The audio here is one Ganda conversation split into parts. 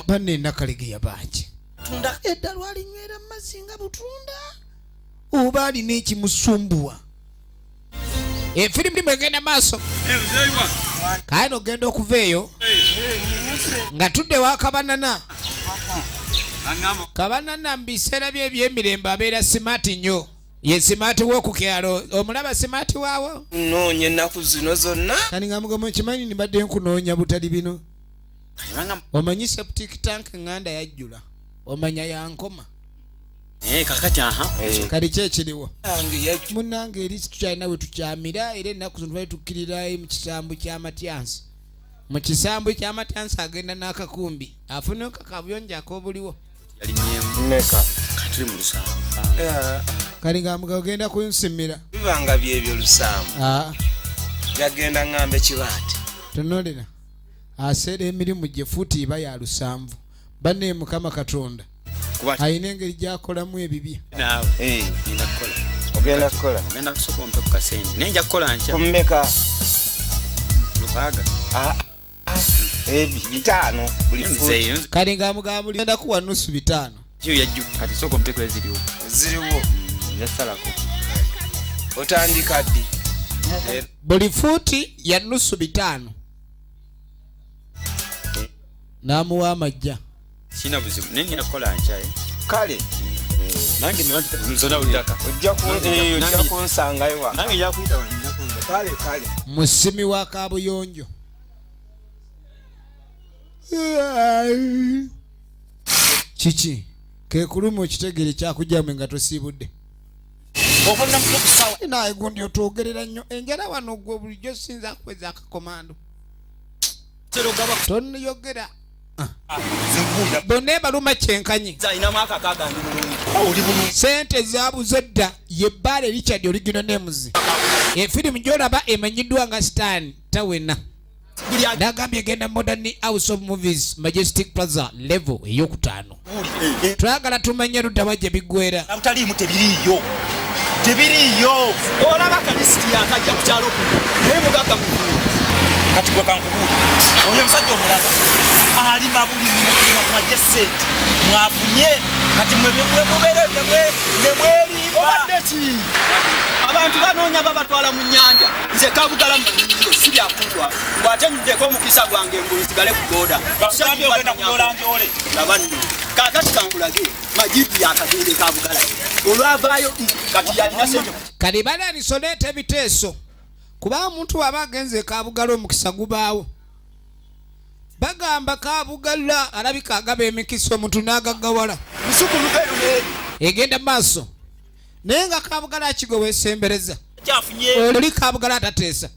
banne nakalegeya bangi edda lwalinywera mu mazzi nga butunda oba alina ekimusumbuwa efirimu limu egenda maaso kale nogenda okuva eyo nga tudde wakabanana kabanana mu biseera bye ebyemirembe abeera simaati nnyo ye simaati w'oku kyalo omulaba simaati waawo nnoonya ennaku zino zonna kani nga mugamba nkimanyi nibadde nkunoonya butali bino omanyi septic tank nganda yajjula omanya yankoma eh, kakati aha eh. kali ki ekiriwo munange eri tukyalina we tukyamira era ennaku zino twali tukkirira mu kisambu kyamatyansi mu kisambu kyamatyansi agenda n'akakumbi afuneko kabuyonjo ak'obuliwo kali nga mga ogenda kunsimira bibanga byebyo lusaamu ah. yagenda ŋŋamba ekibaati tunulira aseera emirimu gye fuuti iba ya lusanvu banne mukama katonda alina engeri gyakolamu ebibye eh. ogenda kukola ogenda kusooka ompe ku kasente naye nja kukola nkya kumumeka lukaaga ah. bitaano buli kale nga mugamba ligenda kuwa nusu bitaano kati sooka omutekula eziriwo ziriwo yasalako otandika ddi buli fuuti ya nusu bitaano n'amuwa amajja sina buzibu naye nina kukola nkya eh? kale nange nzona ojja kunsangayo nange yakuyita kale kale musimi wa kabuyonjo kiki kekuluma okitegere kyakujamwe nga tosiibudde naye gundi otwogerera nnyo enjala wano gwe bulijjo sinza kuweza akakomando toniyogera bonna ebaluma kyenkanyi sente zabuze dda yebbaale richard oligino nemuzi efirimu gyolaba emanyiddwa nga stan tawena nagambye egenda modern house of movies majestic plaza level eyokutaano twagala tumanye ludawa gye biggwera abutaliimu tebiriiyo tebiriiyo olaba kalisiti yakajja ku kyalo kuno naye mugaga mukulu kati gwe kankubuuli oyo omusajja omulaba alima buli mwaje sente mwafunye kati mwemubeere nemweribaobadeki abantu banoonya babatwala mu nyanja nze kabugala mu si byakunjwako bwate njuddeko omukisa gwange ngulu nsigale ku boda kakati kankulage majibu yakagende kabugala olwavaayo kati yalina sente kati balalisoleeta ebiteeso kuba omuntu waba agenze kabugala omukisa gubaawo bagamba kabugala alabika agaba emikisa omuntu nagagawala egenda maaso naye nga kabugala kigwe wesembereza oli kabugala atateesa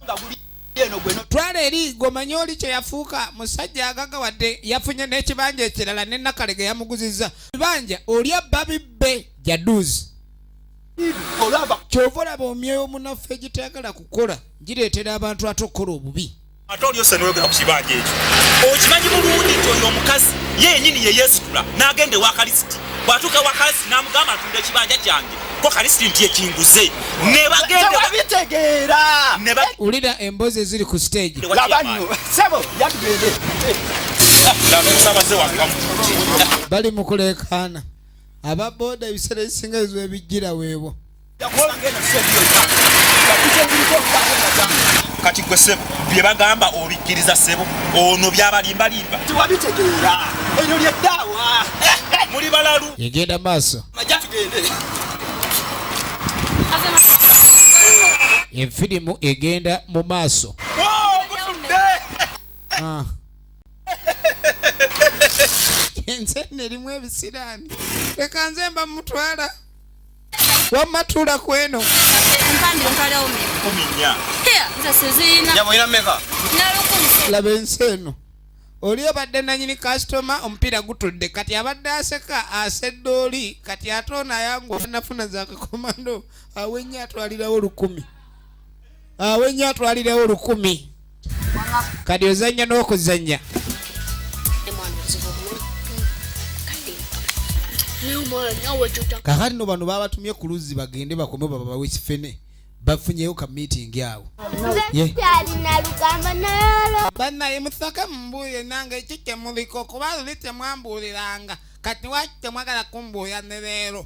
twala eri gomanye oli kyeyafuuka musajja agaga wadde yafunye n'ekibanja ekirala ne nakale ge yamuguziza bibanja oli abba bibbe jaduzi kyova olaba omyoyo munaffe egitayagala kukola gireetera abantu ate okukola obubi ate olyose noyogera ku kibanja ekyo okimanyi bulungi nti oyo omukazi ye yenyini yeyesitula n'agenda ewa kalisiti bwatuuka ewa kalisiti n'amugamba ntunda ekibanja kyange ko kalisiti nti ekinguze nebagenda ulira embozi eziri ku stage bali mukuleekaana aba boda ebiseera ebisinga ezo ebijjira weebwo kati gwe sebo byebagamba obikkiriza sebo ono byabalimbalimba tiwabitegeera eryo lyeddaawa muli balalu egenda maaso aja tugende efirimu egenda mu maaso ah. enze nerimu ebisiraani leka nze mba mutwala wamma tuula ku eno laba ensi eno oli obadde nanyini kasitoma omupiira gutudde kati abadde aseka asedde oli kati ate ono ayangwa nafuna zakakomando awenye atwalirawo lukumi awenye ah, atwalirewo lukumi kadi ozanya n'okuzanya kakati no bano babatumye ku luzzi bagende bakome babawe ekifene bafunyeyo ka meeting awo banaye musake mumbuulire nange ekyo kyemuliko kuba luli temwambuuliranga kati waki temwagala kumbuulira ne leero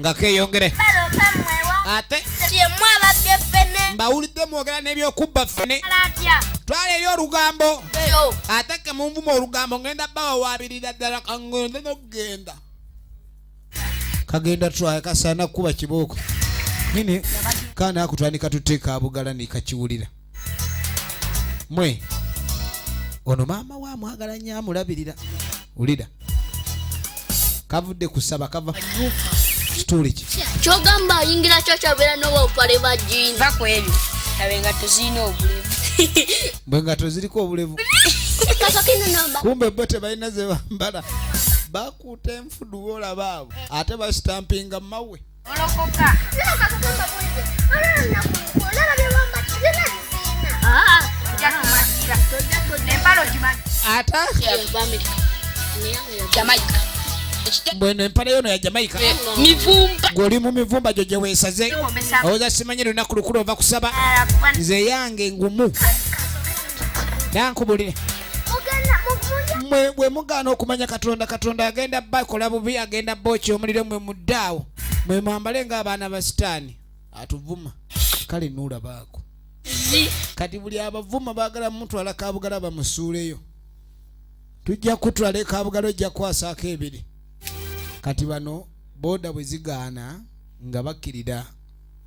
nga keyongere ate mbawulidde mwogera n'ebyokubba ffene twala eri olugambo ate ke munvuma olugambo ngenda bawawabirira ddala kangende nokugenda kagenda twaye kasaana kukuba kibooko nini kaana akutandika tuteeka abugala nikakiwulira mwe ono maama we amwagala nyo amulabirira wulira kavudde kusaba kava story ki kyogamba ayingira kyo kyabeera n'obupale bwa jini va ku ebyo abe nga tuzirina obulevu bwe nga toziriko obulevu kumbe bo tebalina ze bambala bakuuta enfudu olaba abo ate basitampinga mawe bweno empale yono ya jamaica gwoli mu mivumba gyo gyeweesaze owoza simanyi lunaku lukulu ova kusaba nze yange ngumu nankubulire mwe bwe mugaana okumanya katonda katonda agenda bakola bubi agenda booki omuliro mwe muddaawo mwe mwambale ng'abaana ba sitaani atuvuma kale nuulabaako kati buli abavuma baagala mutwala kabugala bamusuuleyo tujja kutwala ekabugala ojja kwasaako ebiri kati bano booda bwe zigaana nga bakkirira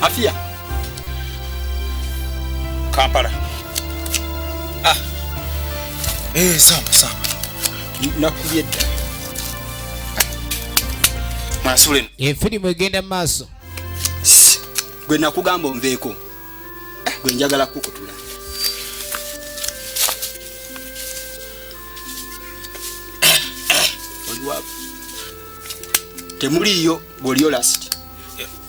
Afia. Kampala. Ah. Eh, samba samba. Nakubye dda. Masule. E filimu egenda maaso. Gwe nakugamba onveeko. Eh, gwe njagala kukutula. Oliwa. Temuliyo, bwoliyo last.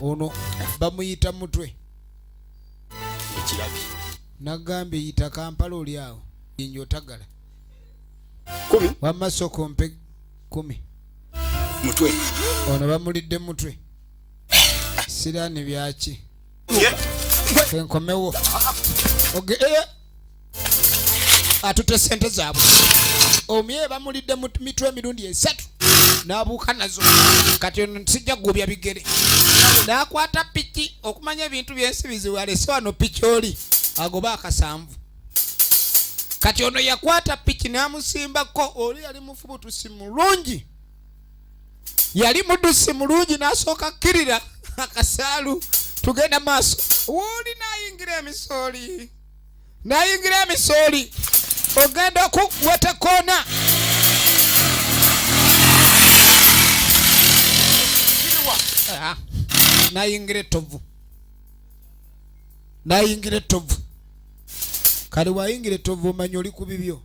ono bamuyita mutwe ekirabi nagambye yita kampala oli awo inja otagala kumi wamma soko mpe kumi mutwe ono bamulidde mutwe siraani byaki kenkomewo oge okay. Eh, atutte sente zaabwe omye bamulidde mu mitwe emirundi esatu n'abuuka nazo kati ono sijja kugubya bigere n'akwata piki okumanya ebintu byensi bizibu alese wano piki oli agoba akasanvu kati ono yakwata piki n'amusimbako oli yali mufubutusi mulungi yali mudusi mulungi n'asooka akkirira akasaalu tugenda maaso wuuli n'ayingira emisooli n'ayingira emisooli ogenda okuweta koona ah, n'ayingira ettovu nayingira ettovu kale wayingira ettovu omanyi oli ku bibyo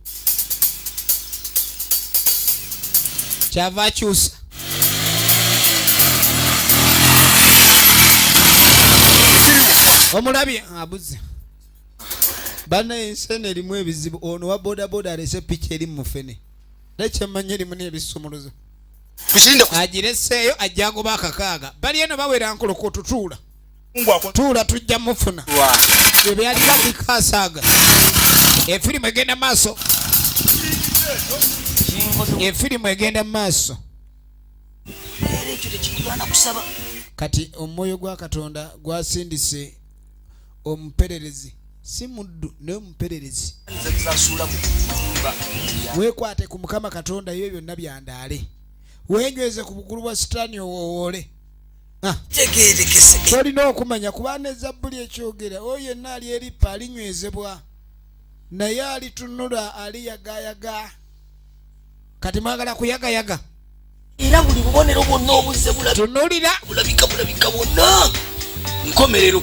kyava akyusa omulabye abuze bana ensene erimu ebizibu ono wa bodaboda alese piki eri mufene nekyemanya erimu nebisumuluzo agireseeyo ajjangoba akakaaga bali eno bawera nkolokotutuula tuula tujja mufuna ebyalina bikasaaga efirimu egenda maaso efirimu egenda maaso kati omwoyo gwa katonda gwasindise omupererezi si muddu naye omupererezi wekwate ku mukama katonda yo byonna byandaale wenyweze ku bukulu bwa sitaani owowoole ah. tolina okumanya kuba ne zabbuli ekyogera oyo yenna ali erippa alinywezebwa naye alitunula aliyagayaga kati mwagala kuyagayaga era buli bubonero bwonna obuzze tunulira bulabika bulabika bwonna nkomerero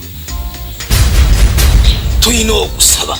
tulina okusaba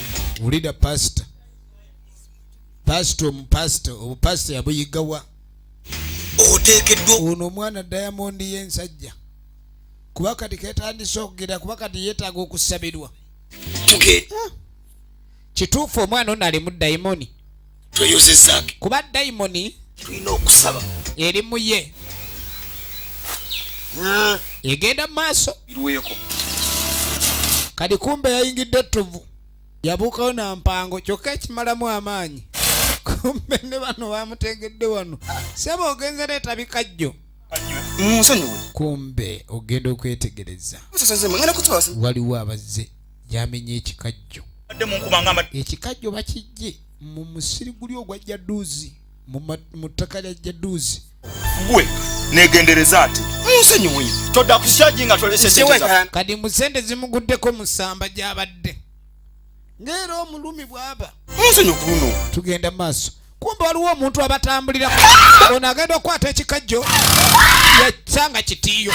wulira pasita pasita omupasita obupasita yabuyigawa oteekeddwa ono omwana diamond y'ensajja kuba kati ketandise okugera kuba kati yeetaaga okusabirwa ah. kituufu omwana ono alimu dayimoni tweyozezange kuba dayimoni tulina okusaba eri muye hmm. egenda mu maaso irweko kati kumbe yayingidde ettovu yabuukawo na mpango kyokka ekimalamu amaanyi kumbe ne bano bamutegedde wano saba ogenze reeta bikajjo munsonyiwe kumbe ogenda okwetegereza waliwo abazze yamenya ekikajjo ekikajjo bakijje mu musiri guli ogwa jaduuzi mu ttaka lya jaduuzi gwe negendereza ati musonyiwe todda kusyagi nga toleseseweka kati mu sente zimuguddeko musamba gyabadde ngaera omulumi bwaba musonyi ku luno tugenda maaso kumbe waliwo omuntu abatambulira ono agenda okukwata ekikajjo yasanga kitiiyo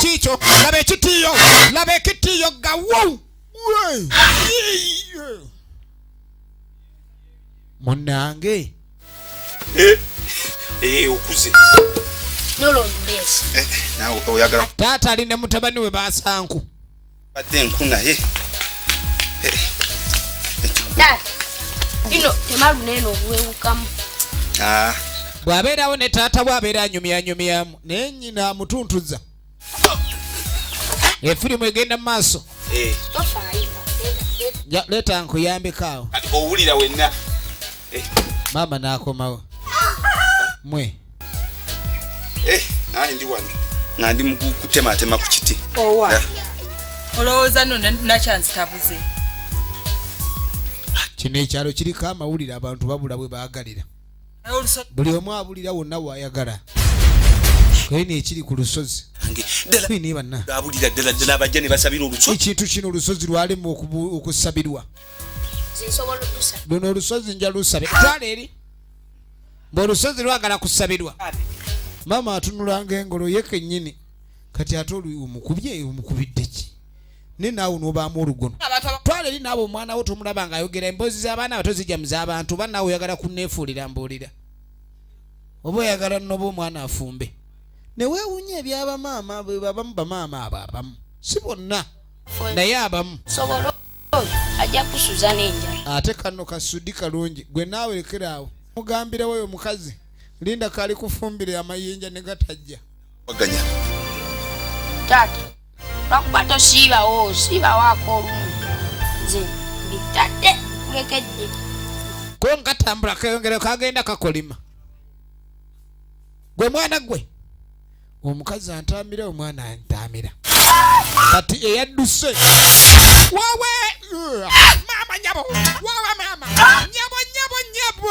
kiikyo laba ekitiiyo laba ekitiiyo gawu munnange eh, eh, okuze eh, taata ali ne mutabani we basanku badde enku naye ino temalu neno obuwewukamu ah. bw'abeerawo ne taata bw'abeera anyumyanyumyamu naye nyina amutuntuza efirimu egenda mu maaso eh. leeta nkuyambeko awo owulira wenna eh. maama n'akomawo mwe eh, naye ndi wano nga ndi mukutematema ku kiti owa olowooza no nakyanzitabuze kino ekyalo kiriko amawulire abantu babula bwe baagalira buli omu abulira wonna wayagala kayina ekiri ku lusozi ekintu kino olusozi lwalimu okusabirwa luno olusozi nja lusabitwala eri ngaolusozi lwagala kusabirwa maama atunulanga engolo ye kenyini kati ate oli omukubye omukubidde ki naye naawe onobaamu olugono twala eri naabo omwana wo tomulaba nga ayogera emboozi z'abaana abato zijja mu z'abantu oba naawe oyagala kunneefuulira mbuulira oba oyagala noba omwana afumbe neweewunya ebyabamaama abamu bamaama abo abamu si bonna naye abamu ajja kusuza n'enjala ate kano kasudi kalungi gwe naawe lekeraawo mugambira woyo omukazi linda kali kufumbire amayinja ne gatajja taata lwakuba tosiibawo siibawaako olumu nze mbitadde kulekedde ko nkatambula keyongere kagenda kakolima gwe mwana gwe omukazi antamira omwana antamira kati eyadduse wawe maama nyabo wawe maama nyabo nyabo nyabo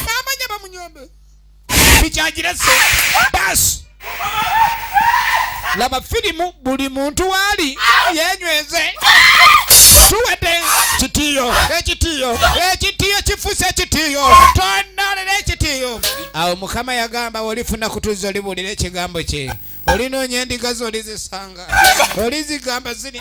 maama nyabo munyombe bikyagirese basi laba firimu buli muntu waali yenyweze tuwedde kitiyo ekitiyo ekitiyo kifuse ekitiyo tonalera ekitiyo awo mukama yagamba olifuna kutuza olibuulira ekigambo kye olinonya endiga zo olizisanga olizigamba ziri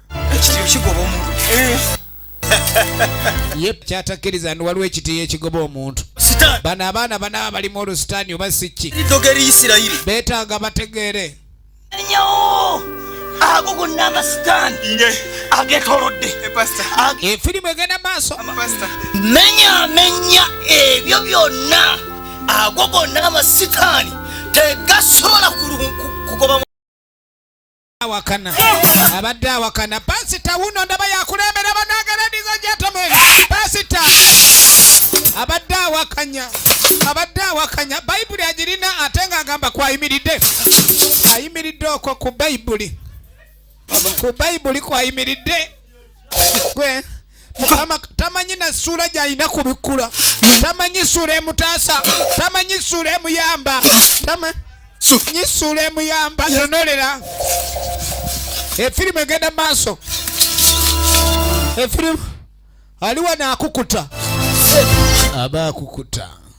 ekitiyo kigoba omuntu yep kyatakkiriza ndi waliwo ekitiyo ekigoba omuntu bano abaana banaba balimu olusitaani oba sikki betaaga bategeere ago gonna amasitaani agetolodde efirimu eh, egenda maaso menyamenya ebyo byonna ago gonna amasitaani tegasobola kugoba awakana abadde awakana pasita wuno ndaba yakulembera banagaladiza jatame pasita abadde awakanya abadde awakanya bayibuli agirina ate nga agamba kwayimiridde ayimiridde okwo ku bayibuli ku bayibuli kwayimiridde gwe mukama tamanyi na ssuula gy'alina kubikkula tamanyi ssuula emutaasa tamanyi ssuula emuyamba tamanyi ssuula emuyamba nonolera efirimu egenda maaso efirimu ali wano akukuta aba akukuta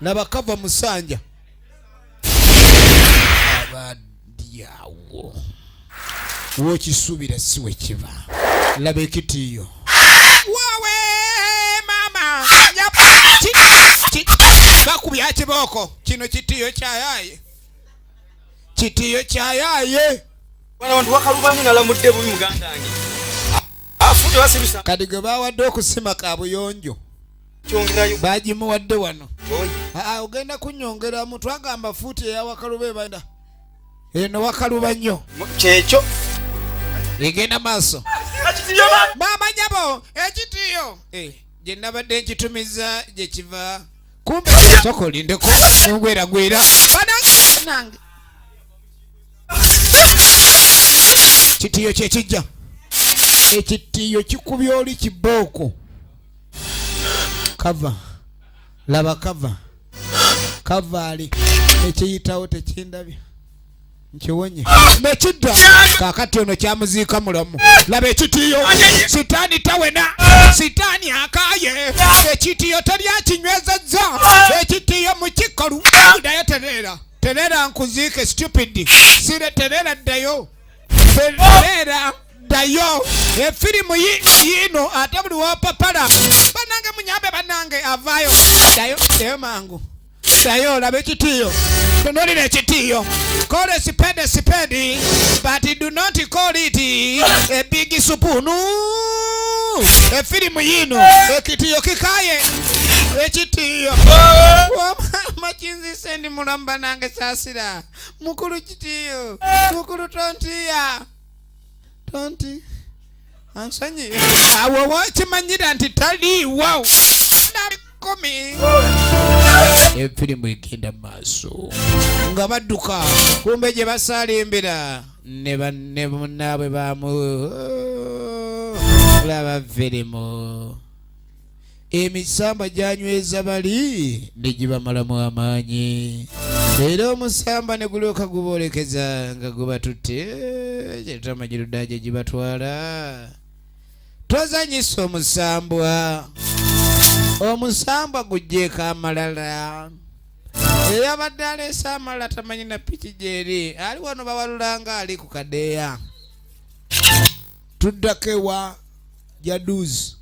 laba kava musanja abadyawo wokisubira si wekiva laba ekitiyo wawe mama bakubya kibooko kino kitiyo kyayaye kitiyo kyayaye abantu wakalubanyi nalamudde bubi mugandange kati gwe bawadde okusima kabuyonjo bagimuwadde wano ah, ah, ogenda kunyongeramu twagamba fuuti eyawakaluba ebanda eno wakaluba nnyo kyekyo egenda maaso bamanyabo ekitiyo eh, gye nabadde nkitumiza gye kiva kumbe soka olindeko nongweragwera banange kitiyo kyekijja ekitiyo kikubya oli kibooko kava laba kava kavaali ekiyitawo tekindabya nkiwonye nekidda kakati ono kyamuziika mulamu laba ekitiyo sitaani tawena sitaani akaye ekitiyo teryakinywezezza ekitiyo mukikalu dayo tereera tereera nkuziike stupid sire tereera ddayo beera ddayo efirimu yiino ate buli wopapala banange munyambe banange avaayo dayo dayo mangu dayo olaba ekitiiyo tunulira ekitiiyo call a spade a spade but do not call it a big spoon efirimu yiino ekitiiyo kikaye ekitiiyo wamama kinzise ndi mulamba nange saasira mukulu kitiyo mukulu tontiya tonti ansonyi awo wakimanyira nti taliiwo kumi efirimu egenda maaso nga badduka kumbe gye basalimbira ne banne munaabwe bamu laba firimu emisamba gyanyweza bali ne gibamalamu amaanyi era omusamba ne gulyoka guboolekeza nga gubatutte kyetamagirudaa gye gibatwala tozanyisa omusambwa omusambwa gujjeeko amalala eyabadde aleese amalala tamanyi na piki gyeri ali wano bawalulanga ali ku kadeeya tuddako ewa jaduzi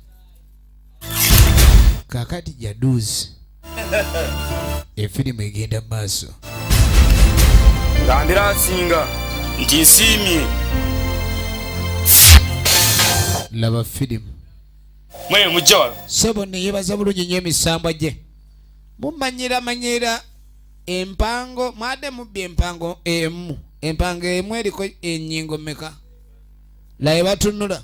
kakati jaduzi efirimu egenda mu maaso gambira asinga nti nsiimye laba firimu mwe mujja wano sebo neyebaza bulungi nyo emisambwa gye mumanyiramanyira empango mwade mubbi empango emu empango emu eriko enyingo meka laye batunula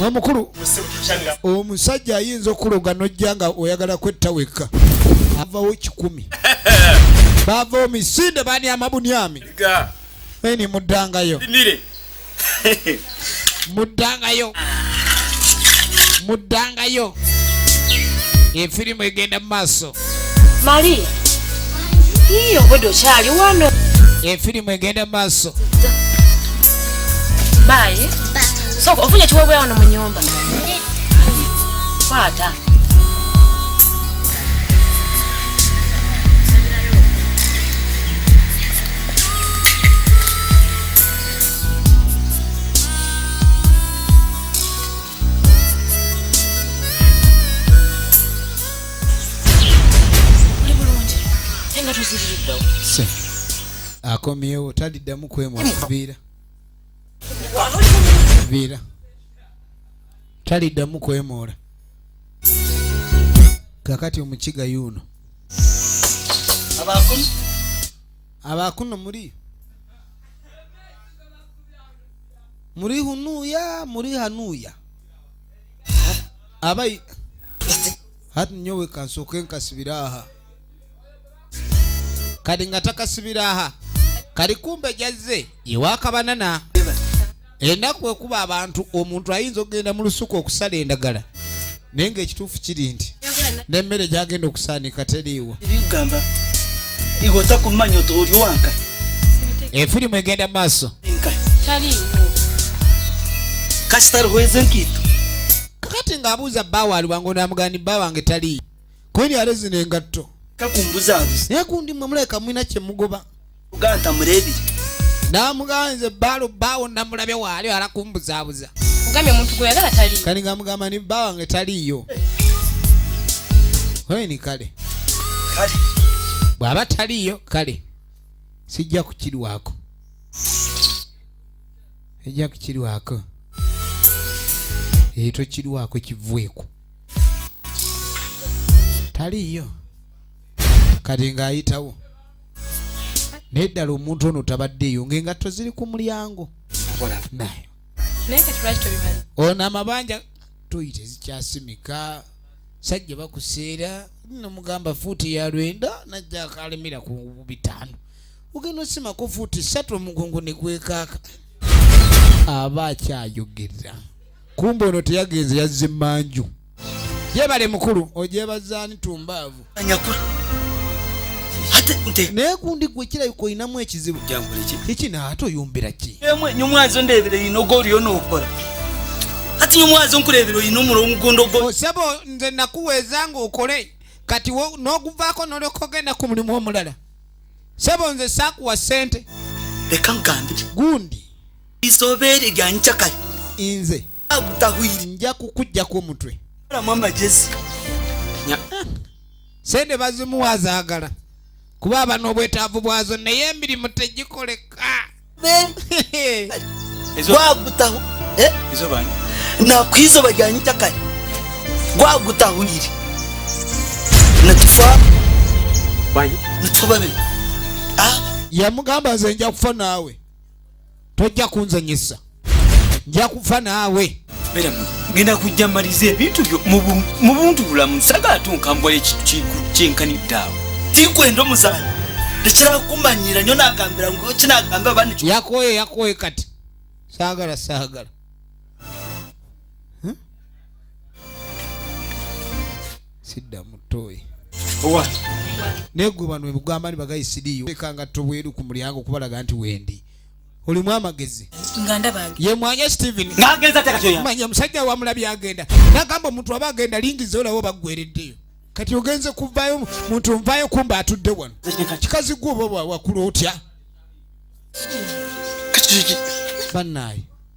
omukulu omusajja ayinza okuloga nojja nga oyagala kwetta wekka avawo kikumi bavawo misinde bani amabunyami eni muddangayo muddangayo muddangayo efirimu egenda mu maaso Maria. Iyo bodo chali wano. E filimu egenda maso. Bye. So ofunye chiwewe wano mu nyumba. Kwata. akomyewo taliddamu kwemuviira viira taliddamu kwemoola kakati omukiga yuuno abakuno muli muri hunuya muri hanuya abayi hati nyowe kansoke nkasibira aha kadi nga takasibira aha kali kumbe jazze yewakabanana enaku ekuba abantu omuntu ayinza okugenda mu lusuku okusala endagala naye ngaekituufu kiri nti nemmere gyagenda okusaanika teriiwo efirimu egenda maaso kakati ng'abuuza bba waali wange onaamugani bba wange taliiyo kweri alezina engatto naye kundi mwe mulabika mulina kyemugoba uganda murebi namuganze balo bawo namulabe wali alakumbuzabuza ugambye omuntu gweyagala tali kali ngamugamba ni bba wange taliyo ni kale kale bw'aba taliyo kale sijja kukirwako ejja kukirwako eyo tokirwako kivweku taliyo kati ng'ayitawo naye ddala omuntu ono tabaddeeyo ngaengatto ziri ku mulyango nayo ono amabanja toyi tezikyasimika sajja bakuseera nomugamba fuuti ya lwenda najja akalemera ku bitaano ogenda osimako fuuti satu omugongo negwekaaka aba akyayogera kumbe ono teyagenze yazze manju yebale mukulu ojebazaani tumbaavu naye gundi gwe kirabika olinamu ekizibu kiki naate oyumbira ki nyumwazo ndebera yina oga oli onookola kati nyumwazo nkulebera oyina omula omugundo gwo oh, sebo nze nakuweeza nga okole kati n'oguvaako nolyoka ogenda ku mulimu omulala sebo nze saakuwa ssente leka ngambi gundi isobeere lyanyi cakali inze nja kukujjako omutwe sente bazimuwa zaagala kuba aba n'obwetaavu bwazo naye emirimu tegikoleka gwagutaho eh? nakwizo bajyanyita kare gwagutahurire natufa natubabe ah? yamugamba nze nja kufa naawe tojja kunzanyisa nja kufa naawe ngenda kujja maliza ebintu byo mu buntu bulamu sagala tunkambula ekintu kikukyenkanidde awo tikwenda omuzaana tekyala kumanyira nyo nagambira kinagamba bani yakoye yakoye kati sagala sagala sidda mutoyi owa naye gwe bano ebugamba ni bagayi sidiyo leka nga tobweru ku mulyango okubalaga nti wendi olimu amagezi ye mwanya steven manya musajja wamulabi agenda nagamba omuntu aba agenda lingi zolawo baggwereddeyo kati ogenze kuvayo muntu nvayo kumba atudde wano kikazi gwe oba wakula otya banaye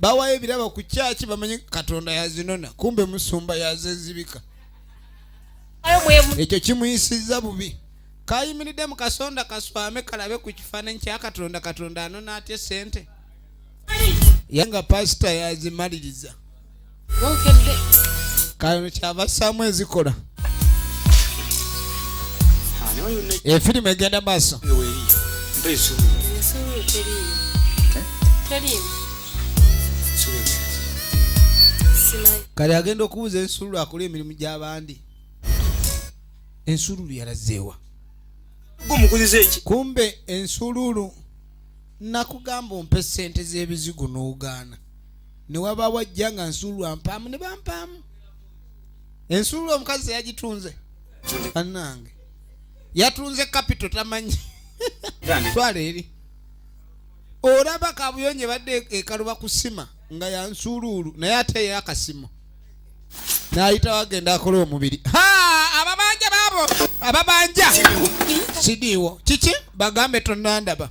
bawayo ebirabo ku kyaki bamanye katonda yazinona kumbe musumba yazezibika ekyo kimuyisiza bubi kayimiridde mu kasonda kaswame kalabe ku kifaananyi kya katonda katonda anona atya sente ye nga pasita yazimaliriza kano kyabassaamu ezikola efirimu egenda maaso kale agenda okubuuza ensululu akola emirimu gy'abandi ensululu yalazeewa kumbe ensululu nakugamba ompe sente z'ebizigo n'ogaana ne wabaawo ajja nga nsuulwa mpaamu ne bampaamu ensuulwa omukazi teyagitunze bannange yatunze kapito tamanyi twala eri olaba kabuyonjo ebadde ekaluba kusima nga yansuuluulu naye ate ye akasimo nayita wagenda akola omubiri ababanja baabo ababanja sidiiwo kiki bagambe tonandaba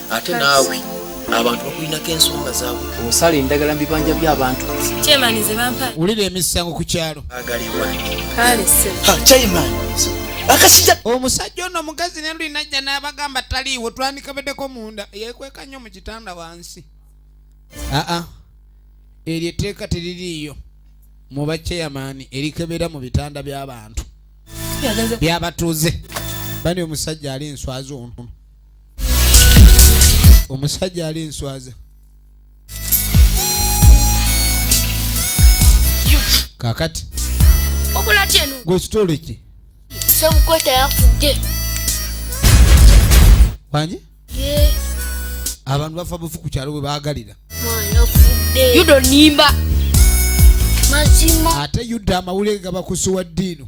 ate naawe abantu bakulinako ensonga zaabwe osala endagala mubibanja byabantu wulira emisango ku kyalo omusajja ono omugazi nelulinajja n'abagamba taliiwo twandikabedeko munda yekweka nnyo mu kitanda wansi aa eryo etteeka teririiyo mu baceyamaani erikebera mu bitanda by'abantu byabatuuze bani omusajja ali enswazi ontono omusajja ali nswaza kakati gwekitole ki semukweta yafudde wangi abantu bafa bufu ku kyalo bwe baagalira yudonimba mazima ate yuda amawulire gabakusuwa ddiino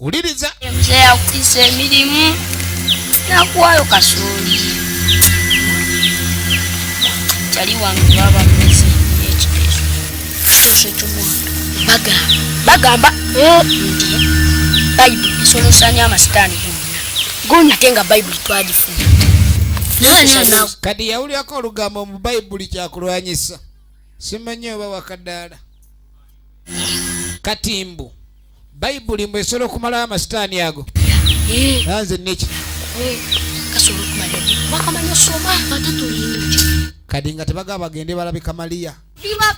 wuliriza mzee yakukisa emirimu nakuwayo kasooli tali wange baba mumezi ekiteeso ekiteeso ekyomwana bagamba bagamba eh, nti bayibuli esolosanya amasitaani gonna ate nga bayibuli twagifuna kati yawulirako olugambo mu bayibuli kyakulwanyisa simanyi oba wakadaala katimbu bayibuli mbu esobola okumalawo amasitaani ago eh. anze neki eh, kadi nga tebaga bagende balabe kamaliya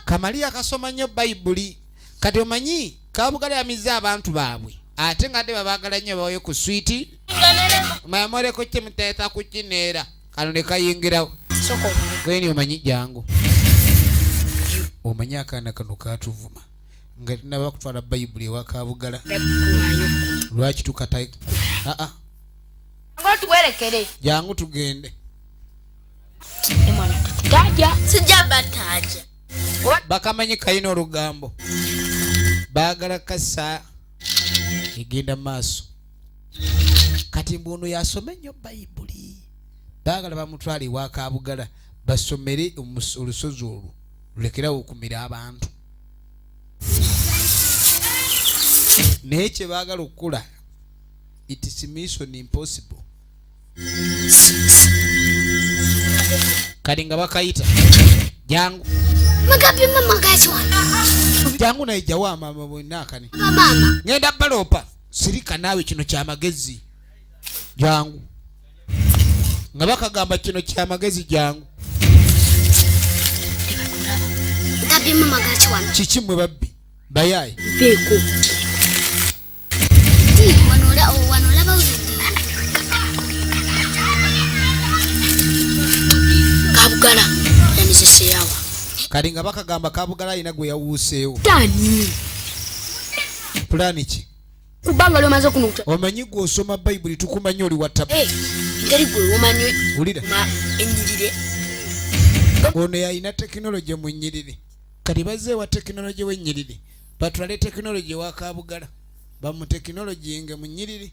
kamaliya kasoma nnyo bayibuli kati omanyi kabugalyamizza abantu baabwe ate nga de babagala nnyo bawayo ku switi mamoreko kimuteesa ku kineera kano ne kayingirawo gweni omanyi jangu omanyi akaana kano katuvuma nga tinaba kutwala bayibuli ewakabugala lwaki tukata aa tuwerekere jangu tugende bakamanyi kalina olugambo bagala kasa egenda maaso kati mbu ono yasoma ennyo bayibuli baagala bamutwala ewakabugala basomere olusozi olwo lulekerawo okumira abantu naye kyebaagala okukula its mission impossible kati nga bakayita jangu jangu naye jawo amama bwena akani ngenda baloopa sirika naawe kino kyamagezi jangu nga bakagamba kino kya magezi jangu kiki mwe babbi bayaye kabugala yamizeseyawa kati nga bakagamba kabugala alina gwe yawuuseewo pulaani ki kubanga oli omaze okunuta omanyi gwe osoma bayibuli tukumanyi oli watabu eh, ngeri gwe omanyi wulira ennyirire ono yalina tekinologi mu nnyiriri kati bazze ewa tekinologi w'ennyiriri batwale tekinologi ewa kabugala bamutekinologi nge mu nnyiriri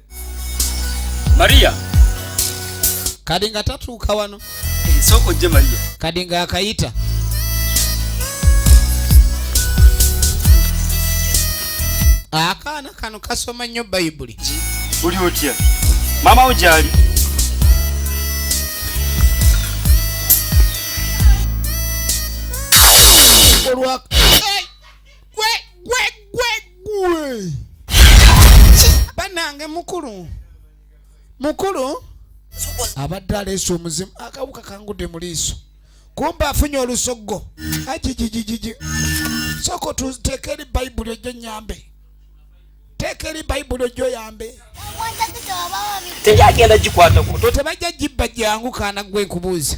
maria kadi nga tatuuka wano nsooka ojje maria kadi nga akayita akaana kano kasoma nnyo bayibuli oli otya maama wo gyali olwa gwe gwe gwe gwe banange mukulu mukulu abadde aleese omuzimu akawuka kangudde mu liiso kumba afunye olusoggo ajijijijiji soko tuteeka eri bayibuli ojjo nyambe teeka eri bayibuli ojjo yambe teyagenda gikwata tebajja gibba gyangu kaana gwe nkubuuza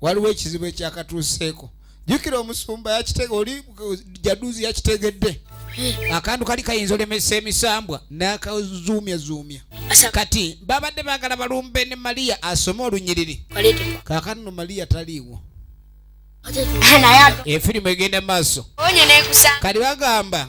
waliwo ekizibu ekyakatuuseeko jukira omusumba yakitege oli jaduzi yakitegedde akantu kali kayinza olemesa emisambwa nakazuumya zuumya kati babadde bagala balumbe ne maliya asome olunyiriri kakano maliya taliiwo efirimu egenda maaso kati bagamba